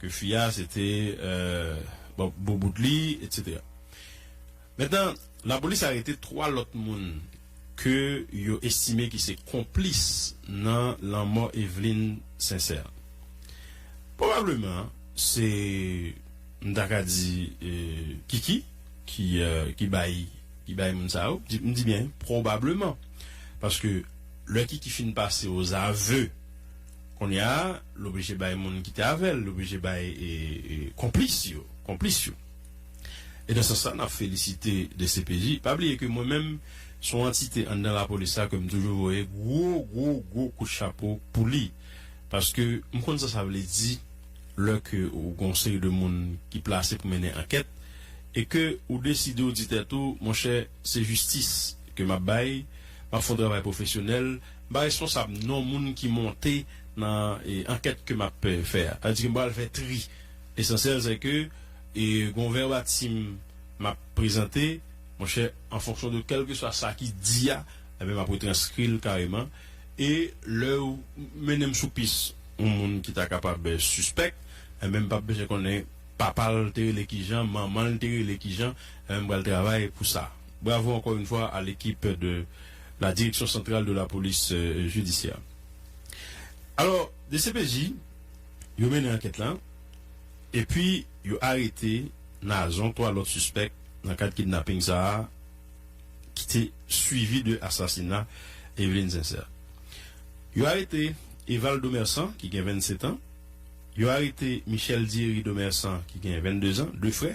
Ke fi a se te bo bout li etc. Mentnan lapolis arete 3 lòt moun ke yo estime ki se konplis nan lanmò Eveline Sincère. Pwobableman se m ta ka di Kiki ki bay ki bay moun sa yo. M di byen pwobableman paske lè Kiki fin pase ozav Kounye a, l oblije bay moun ki te avè l, l oblije bay konplis yo, konplis yo. E nan sans sa, n ap felisite dcpj. Pa bliye ke mwen menm, se yon antite anndan lapolis la ke m toujou voye gwo, gwo, gwo kout chapo pou li. Paske m konn sa sa vle di lè ke ou gen yon seri de moun ki plase pou mennen ankèt e ke ou deside ou di tèt ou, monchè, se jistis ke m ap bay, m ap fè yon travay pwofesyonèl, M pa responsab non moun ki monte nan ankèt ke m ap fè a. Sa vle di ke m pral fè tri. Lesansyèl sè ke gon vèbatim m ap prezante, monchè, an fonksyon de kèlkeswa sa ki di a, enben m ap retranskri l kareman. E lè yo mennen m sou pis yon moun ki ta kapab sispèk, enben m p ap bezwen konnen papa l te rele kijan, manman l te rele kijan, enben m pral travay pou sa. Bravo encore une fois à l'équipe de la direction centrale de la police judiciaire. Alors dcpj yo mennen ankèt la epi yo arete Nazon 3 lòt sispèk nan kad kidnapping sa ki te swivi de asasina Eveline Sincère. Yo arete Eval Domerçant ki gen 27 ans, yo arete Michel Diery Domerçant ki gen 22 ans, 2 frè.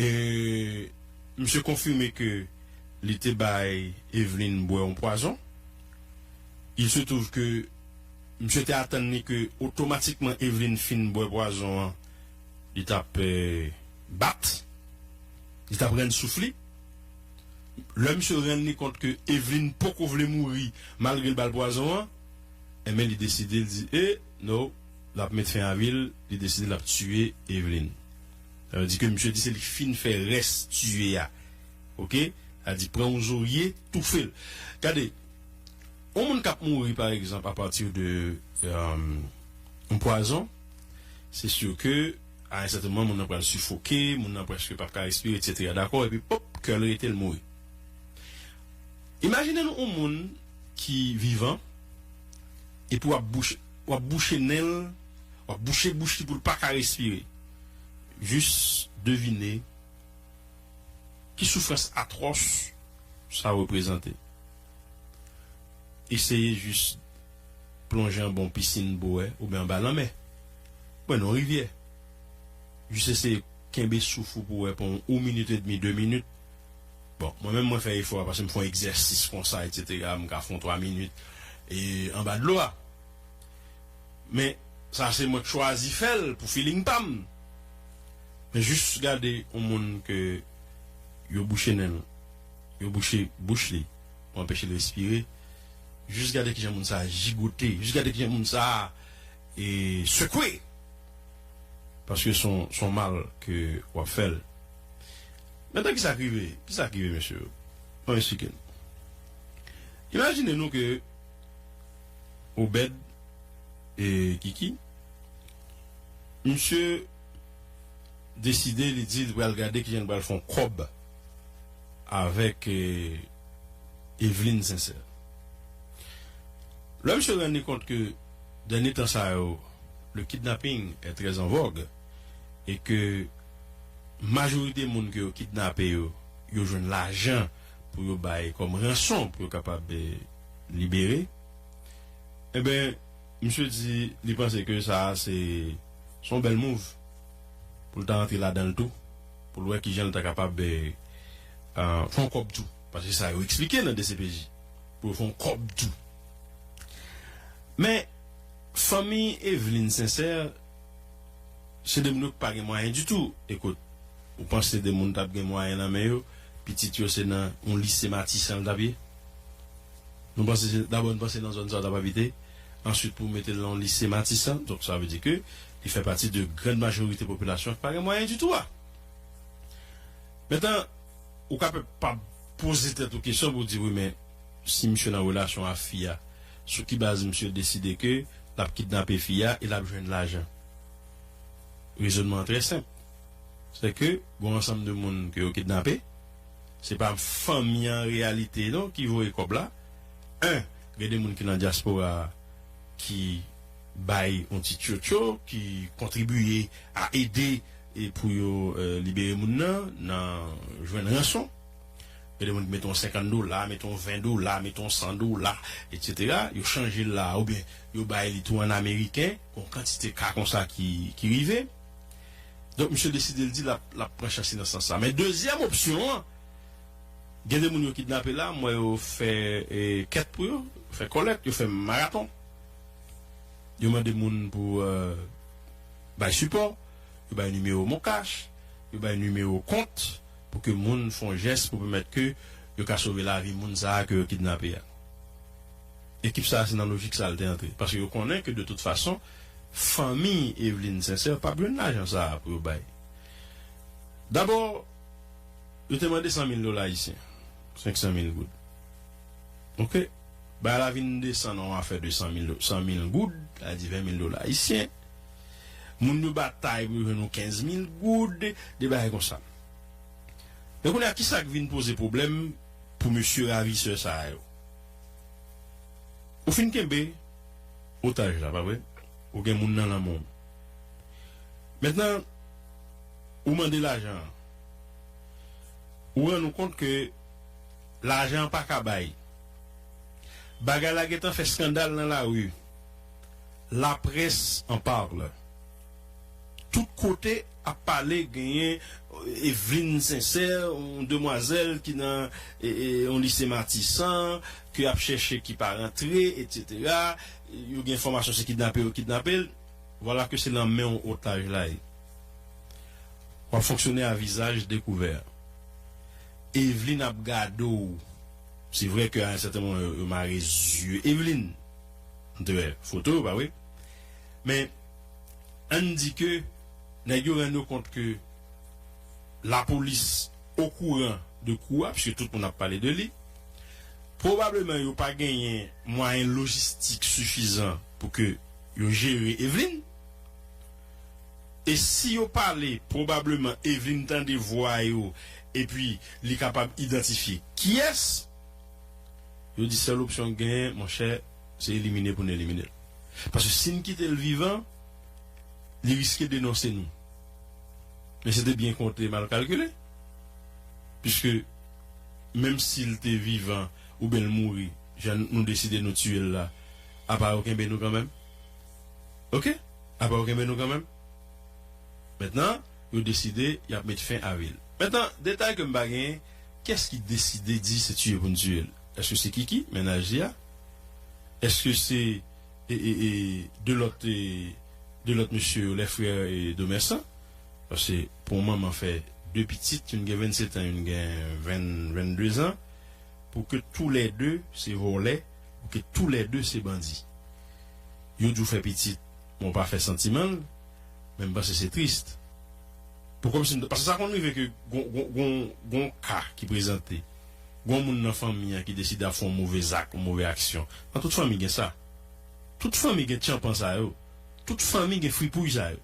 E misye konfime ke li te bay Eveline bwè yon pwazon. Il se trouve ke misye te atann li ke otomatikman Eveline fin bwè pwazon an, li t ap bat, li t ap rann souf li. Lè misye rann li kont ke Eveline poko vle mouri malgre li ba l pwazon an, enben li deside, li di, E, no, l ap met fen a vi l, li deside l ap tiye Eveline. Sa vle di ke misye di se li fin fè rès tiye a. Ok. Sa di pran yon zorye, toufe l. Gade, yon moun k ap mouri pa egzanp a pati de yon pwazon, se si ke a yon sèten moman moun nan pral sifoke, moun nan prèske p ap ka respire etsetera dakò epi pop kè l rete l mouri. Imajine nou yon moun ki vivan epi w ap bouche, w ap bouche nen l, w ap bouche bouch li pou l pa ka respire. jis devine ki soufrans atwòs sa reprezante. Eseye jis plonje anba yon pisin bouwè oubyen anba lanmè, oubyen nan yon rivyè. Jis eseye kenbe souf ou pou wè pou yon minit edmi, de minit. Bon, mwen menm mwen fè efò a paske m fè yon egzèsis konsa, eksetera, m ka fè yon twa minit anba dlo a. Men sa se mwen k chwazi fèl pou feeling pam Men jus gade yon moun ke yo bouche nenl yo bouche bouch li pou anpechel respire jus gade kijan moun sa jigote jus gade kijan moun sa sekwe paske son mal ke wap fèl Men tan kisa k rive kisa k rive mesye yo map esplike nou Imajine nou ke Obed e Kiki. Misye deside li di li pral gade kijan li pral fon kòb avèk Evelyne Sincère. Lè misye rann li kont ke dènye tan sa yo le kidnapping est très en vogue e ke majorite moun ke yo kidnape yo, yo jwenn lajan. pou yo bay kòm ranson pou yo kapab libere. Enben, misye di li panse ke sa a se se yon bèl move pou l ta antre ladan l tou, pou l wè kijan l ta kapab fè yon kòb tou. Paske se sa yo eksplike nan dcpj, pou yo fè yon kòb tou. Men, fanmi Eveline Sincère, se de moun yo ki pa gen mwayen ditou. Ekout, ou panse de moun ta p gen mwayen nan men yo? Pitit yo se nan yon lise Matisan li t ap ye. Nou panse se, dabò nou panse nan zòn sa li t ap abite. Answit pou mete l nan yon lise Matisan, donk sa vle di ke li fè pati de grand majorite popilasyon ki pa gen mwayen ditou a. Mentan, ou ka pe pa poze tèt ou kesyon pou w di, wi men si misye nan relasyon a fi a, sou ki baz misye deside ke l ap kidnape fi a e l ap jwenn lajan? Rezonman an trè senp. Se ke gon ansanm de moun ke yo kidnape, se pa fanmi an reyalite non ki voye kòb la. 1, Gen de moun ki nan dyaspora ki bay yon ti tchotcho, ki kontribiye a ede pou yo libere moun nan, nan jwenn ranson. Gen de moun ki mete yon 50 dola, mete yon 20 dola, mete yon 100 dola, etsetera. Yo chanje l la a oubyen yo bay li tou an ameriken. Gon kantite ka konsa ki rive. Donk misye deside l di lap lap pran chans li nan sans sa. Men dezyèm opsyon an, gen de moun yo kidnape la, m wè yo fè kèt pou yo, yo fè kòlèt, yo fè maraton. Yo mande moun pou bay sipò, yo bay nimewo moncash, yo bay nimewo kont pou ke moun fon jès pou pèmèt ke yo ka sove lavi moun sa a ke yo kidnape a. Ekip sa se nan lojik sa l te antre paske yo konnen ke de tout fason fanmi Evelyne Sincère pap jwenn lajan sa pou yo bay. Dabò yo te mande 100 mil dola ayisyen, 500 mil goud. Ok, bagay la vin desann an yon afè de 100 mil 100 mil goud, sa vle di 20 mil dola ayisyen. Moun yo batay pou yo jwenn yon 15 mil goud, de bagay konsa. Men kounye a kisa k vin poze pwoblèm pou mesye ravisè sa yo? Ou fin kenbe otaj la, pa vre? Ou gen moun nan lanmè w. Mentnan, ou mande lajan an. Ou rann ou kont ke lajan an pa ka bay. Bagay la gentan fè skandal nan lari. Laprès an parle. Tout kote ap pale genyen Evelyne Sincère yon demwazèl ki nan yon lise Matisan ke yap chèche ki pa rantre etc. Yo gen enfòmasyon se kidnape yo kidnapel. Vwala ke se lan menw otaj la ye. Wap fonksyone a vizaj dekouvè. Evelyne ap gadew. Se vre ke a yon sèten moman yo mare zye Evelyne. M te wè foto yo pa vre? Men, ann di ke nèg yo rann yo kont ke lapolis okouran de kou a, pske tout moun ap pale de li. Pwobableman yo pa genyen mwayen lojistik sifizan pou ke yo jere Evelyn. E si yo pale, pwobableman Evelyn tande vwa yo epi li kapab idantifye kiyès. Yo di sèl opsyon ki genyen, monchè, Se elimine pou n elimine l. Paske si n kite l vivan, li riske denonse nou. Men se te byen konte, mal kalkile. Piske menm si l te vivan oubyen l mouri jan nou deside nou tiye l la, apa yo kenbe nou kanmenm. Oke? Apa yo kenbe nou kanmenm. Mentnan, yo deside y ap met fen avi l. Mentnan, detay ke m pa genyen, kès ki deside di se tiye pou n tiye l? Eske se kiki mennaj li a? Eske se e 2 lòt 2 lòt mesye yo les frères Domerçant? Paske pou yon manman fè 2 pitit youn gen 27 ans youn gen 20 22 ans pou ke tou lè 2 se vòlè pou ke tou lè 2 se bandi yo di w fè pitit men w pa fè santiman l men m panse se triste pou kòmsi paske sa konn rive ke gon gon gon ka ki prezante. gen yon moun nan fanmi an ki deside ap fè yon move zak, yon move aksyon. Nan tout fanmi gen sa. Tout fanmi gen tchanpan sa yo. Tout fanmi gen fripouy sa yo.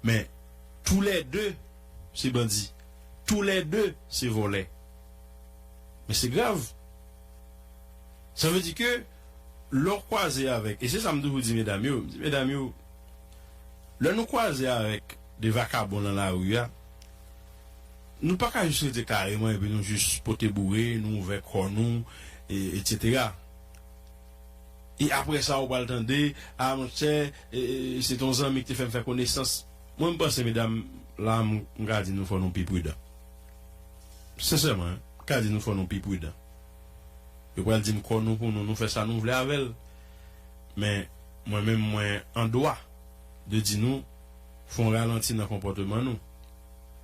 Men, tou lè de se bandi. Tou lè de se vòlè. Men se grav. Sa vle di ke lè w kwaze avèk, e se sa m toujou di medam yo, m di medam yo, lè nou kwaze avèk de vakabon lan lari a, Nou paka jis rete kareman epi nou jis pote boure, nou ouvè kò nou etc. E aprè sa ou pral tande, ah monchè se ton zanmi ki te fèm fè konesans. Mwen m panse medam, la m ka di nou fò nou pi prudan. Sensèman, m ka di nou fò nou pi prudan. Yo pral di m kò nou pou nou, nou fè sa nou vle avè l. Men mwen menm mwen an dwa de di nou fon ralanti nan konpòteman nou.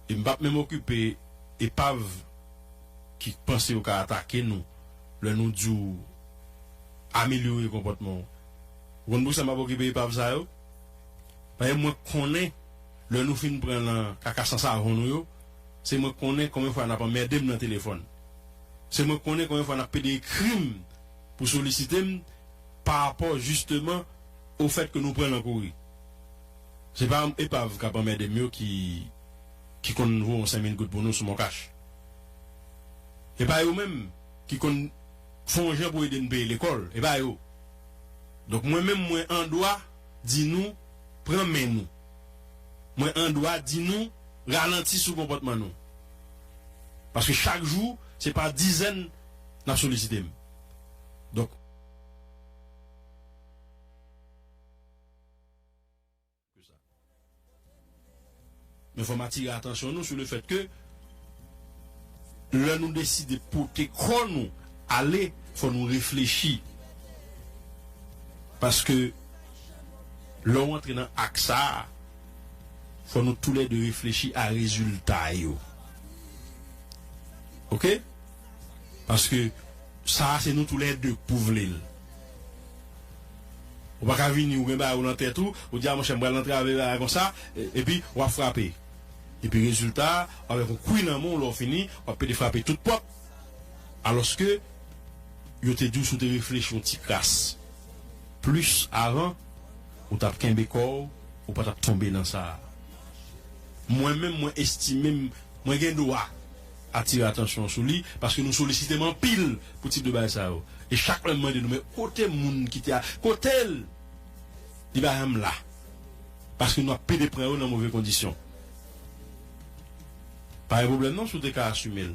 e m pap menm okipe epav ki k panse yo ka atake nou lè nou di w amelyore konpòtman w. Ou konn poukisa m pap okipe epav sa yo? Paske mwen konnen lè nou fin pran lan kaka san savon nou yo, se mwen konnen konbyen fwa n ap anmède m lan telefòn. Se mwen konnen konbyen fwa n ap pede ekri m pou solisite m parapò jisteman ofèt ke nou pran lan kouri. Se pa epav kap anmède m yo ki ki konn voye yon senmil goud pou nou sou moncash. E pa yo menm ki konn fè yon jan pou ede n peye lekòl. E pa yo. Donk mwen menm mwen an dwa di nou pran men nou. Mwen an dwa di nou ralanti sou konpòtman nou. Paske chak jou se pa dizèn nap solisite m. Donk. Men fòm atire atansyon nou sou le fèt ke lè nou deside pote kò nou ale fò nou reflechi paske lè ou antre nan ak sa fò nou tou lè 2 reflechi a rezilta yo ok paske sa se nou tou lè 2 k pou vle l. Ou pa ka vini ou gen bagay ou nan tèt ou, ou di a monchè m pral antrave bagay konsa, epi w ap frape. Epi rezilta a, w avèk yon kwi nan men w lè w fini, w ap pete frape tout pòt. Alòske, yo te di w si w te reflechi yon ti kras plis avan, ou t ap kenbe kò w, ou pa t ap tonbe nan sa a. Mwen menm, mwen estime m mwen gen dwa. atire atansyon sou li paske nou solisite m anpil pou tip de bagay sa yo e chak lè m mande nou men kote moun ki te a kote l di pa janm la paske nou ap pede pran yo nan move kondisyon pa gen pwoblèm non si w te ka asime l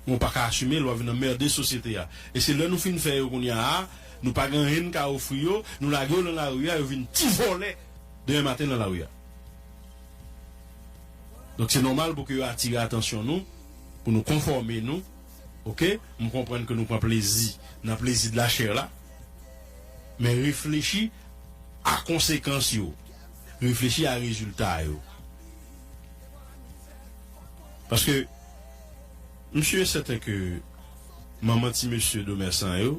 men w pa ka asime l w ap vin anmerde sosyete a e se lè nou fin fè yo kounya a nou pa gen anyen n ka ofri yo nou lage yo lan lari a yo vin ti vòlè demen maten lan lari a. Donk se nòmal pou ke yo atire atansyon nou, pou nou konfòme nou, ok, m konprann ke nou pran plezi nan plezi de la chair la, men reflechi a konsekans yo, reflechi a rezilta yo. Paske m sur et certain ke manman ti mesye Domerçant yo,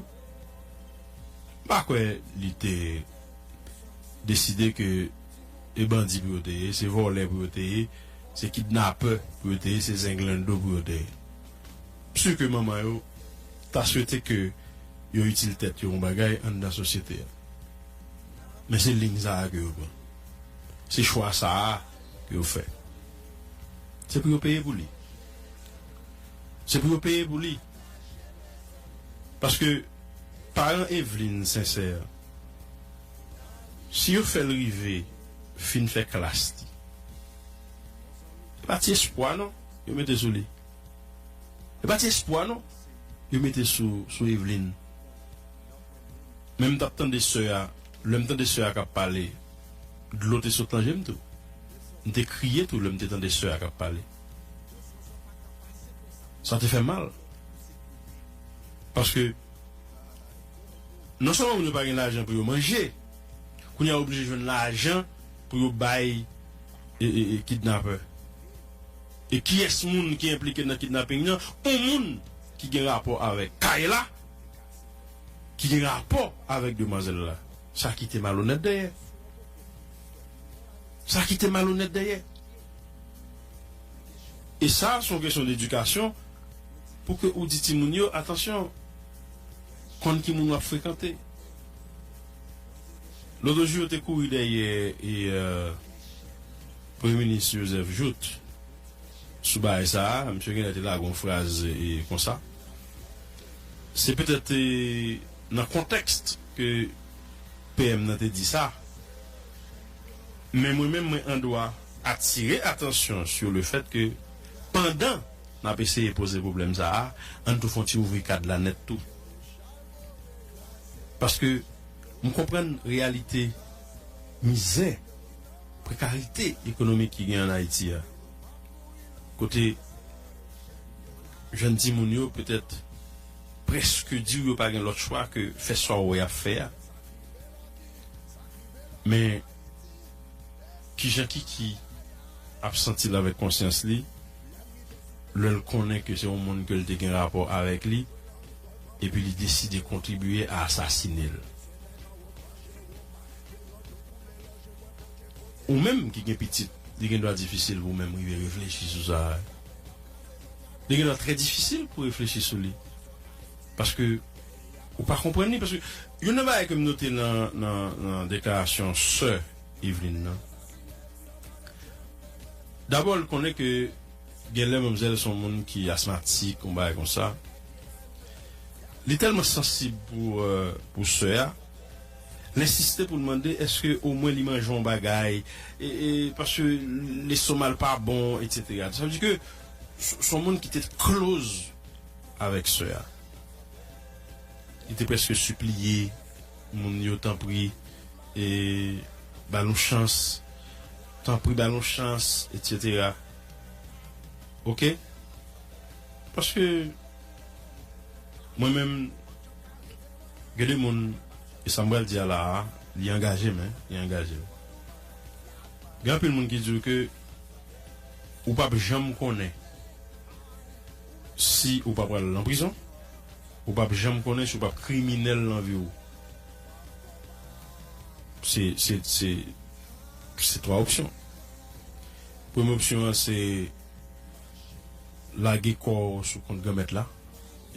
m pa kwè li te deside ke. e bandi pou yo te ye, se vòlè pou yo te ye, se kidnapè pou yo te ye, se zenglendo pou yo te ye. M si ke manman yo ta swete ke yo itil tèt yo yon bagay anndan sosyete a. Men se liy sa a ke yo pran. Se chwa sa a ke yo fè. Se pou yo peye pou li. Se pou yo peye pou li. Paske paran Evlin Sensè. Si yo fèl rive fin fè klas li. E pa ti espwa non yo mete sou li. E pa ti espwa non yo mete sou Evlin. Men m tap tande sè a, lè m tande sè a kap pale dlo te sot nan je m tou. M te kriye tou lè m te tande sè a kap pale. Sa te fè mal. Paske. Non sèlman moun yo pa gen lajan pou yo manje, kounye a yo oblije jwenn lajan pou yo bay kidnapè. E kiyès moun ki enplike nan kidnaping nan? On moun ki gen rapò avèk kay la, ki gen rapò avèk demwazèl la. Sa kite malonèt dèyè. Sa kite malonèt dèyè. E sa, se yon kesyon ledikasyon pou ke ou di timoun yo, atansyon! konn ki moun wap frekante loto jou yo te kouri dèyè e premye minis Joseph Jout sou bagay sa a misye genlè te lage yon fraz konsa se petèt te nan kontèks ke PM nan te di sa men mwen menm mwen andwa atire atansyon sou le fèt ke pandan N ap eseye poze pwoblèm sa a. An n tou fè yon ti ouvri kad la nèt tou. Paske m konprann reyalite mizè, prekarite ekonomik ki gen ann Ayiti a. Kote jèn timoun yo petèt prèske di w yo pa gen lòt chwa ke fè sa w wè y ap fè a. Men. Kijan Kiki ap santi l avèk konsyans li lè l konnen ke se yon moun ke l te gen rapò avèk li epi li deside kontribye a asasine l? Ou menm ki gen pitit, li gen dwa difisil pou w menm rive reflechi sou sa a. Li gen dwa trè difisil pou w reflechi sou li paske. Ou pa konprann li paske youn nan bagay ke m note nan nan deklarasyon sè Evelyne nan dabò l konnen ke genlè manmzèl s on moun ki asmatik yon bagay konsa li tèlman sansib pou pou sè a l ensiste pou l mande èske omwen li manje yon bagay e paske lestomal pa bon etc sa vle di ke s on moun ki te close avèk sè a. Li te prèske sipliye moun yo, Tanpri, ba l yon chans. Tanpri, ba l yon chans, etsetera. Oke? Paske, mwen menm, gen de moun, e sa m pral di a la a, li angaje m, hein, li angaje m. Gen anpil moun ki di w ke ou p ap janm konnen. Si ou pa pral nan prizon, ou pap janm konnen si ou pap kriminèl nan vi ou. Se, se, se, se twa opsyon. Premye opsyon an se lage kò ou sou kont Granmèt la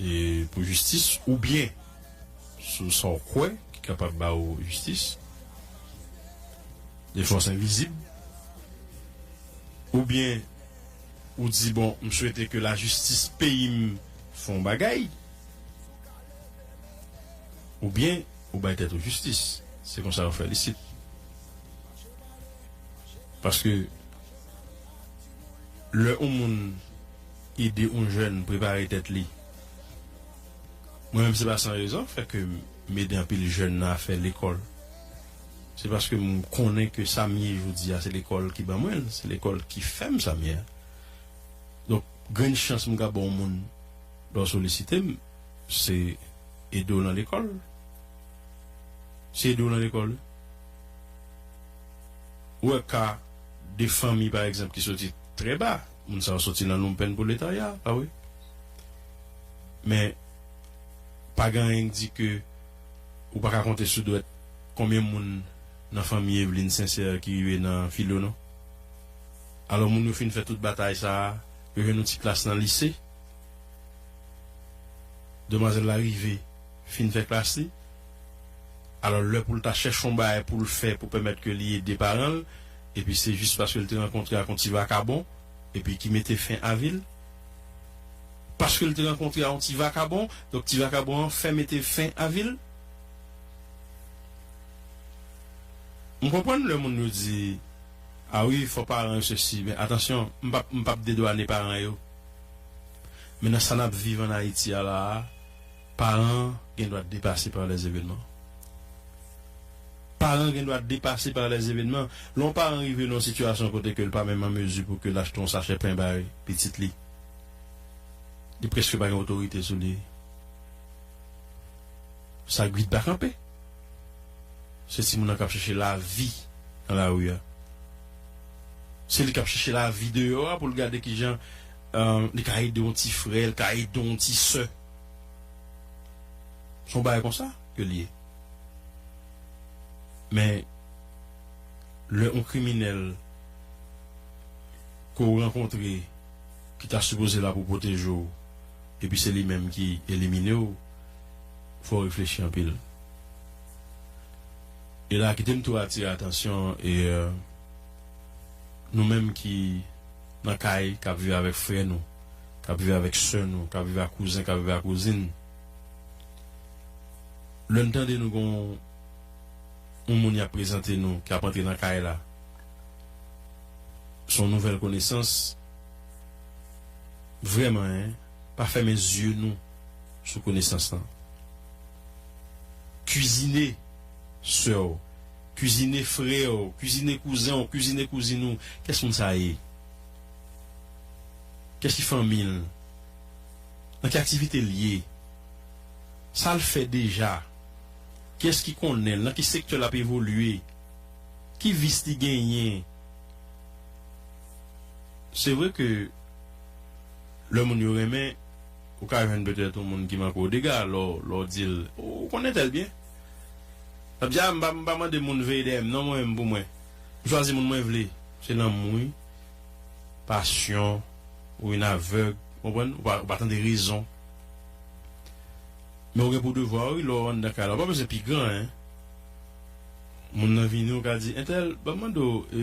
e pou jistis oubyen sou sa ou kwè ki kapab ba ou jistis, de fòs envizib, oubyen. Ou di bon m swete ke la jistis peyi m fè yon bagay ou byen ou bay tèt ou jistis se konsa yo fè l isit paske lè yon moun ede yon jèn prepare tèt li mwen menm se pa san rezon fè ke m ede anpil jèn nan afè lekòl. Se paske m konnen ke sa m ye jodi a se lekòl ki ban mwen l, se lekòl ki fè m sa m ye a. Donk, grenn chans m ka ba yon moun lè w solisite m, se ede w nan lekòl. Se ede w nan lekòl wi. Ou wè ka de fanmi pa egzanp ki soti trè ba, moun sa yo soti nan lonmpenn pwoletarya, pa vre? Men, pa gen anyen ki di ke. Ou paka konte sou dwèt konbyen moun nan fanmi Evelyne Sincère ki rive nan filo non. Alò moun yo fin fè tout batay sa a, yo jwenn yon ti klas nan lise. Demwazèl la rive fin fè klas li. Alò lè pou l ta chèche yon bagay pou l fè pou pèmèt ke li ede paran l, epi se jis paske l te rankontre ak yon ti vakabon epi ki mete fen a vi l. Paske l te rankontre a yon ti vakabon, donk ti vakabon an fè mete fen a vi l. M konprann lè moun yo di, A wi, fò paran yo sesi, men atansyon, m pa m pa p dedwane paran yo. Men nan sa n ap viv ann Ayiti a la a, paran gen dwa depase par les événements. Paran gen dwa depase par les événements. Lè yon paran rive nan yon sitiyasyon kote ke l pa menm an mezi pou ke l achte yon sachè pen bay pitit li, Li preske pa gen otorite sou li. Sa Guy t pa kanpe. Se timoun nan kap chèche lavi nan lari a. Se li kap chèche lavi deyò a pou l gade kijan li ka ede yon ti frè, li ka ede yon ti sè. Se yon bagay konsa ke li ye. Men lè yon kriminèl. ke w rankontre ki ta sipoze la pou pwoteje w epi se li menm ki elimine w, fò w reflechi anpil. E la kite m tou atire atansyon nou menm ki nan kay k ap viv avèk frè nou, k ap viv avèk sè nou, k ap viv ak kouzen, k ap viv ak kouzin, lè n tande nou gen yon moun y ap prezante nou ki ap antre nan kay la, son nouvèl konesans vrèman en pa fèmen zye nou sou konesans lan kizine sèw kizine frèw kizine kouzenw kizine kouzin ou kès moun sa ye kès ki fanmil nan ki aktivite l ye sal fè deja kiyès ki konnenl nan ki sektè lap evolye Ki vis li genyen? Se vre ke lè moun yo renmen, ou ka jwenn petèt yon moun ki manke w dega lè w di l, Ou konn entèl byen? L ap di, A, m pa mande moun veye dèyè m non, mwen menm pou mwen. M chwazi moun mwen vle. Se lanmou wi. Pasyon ou vin avèg, ou konprann? Ou pa tande rezon. Men ou gen pou devwa wi lè w anndan kay la. Ou pa bezwen pi gran. Moun nan vini ou ka di entèl banm mande w e.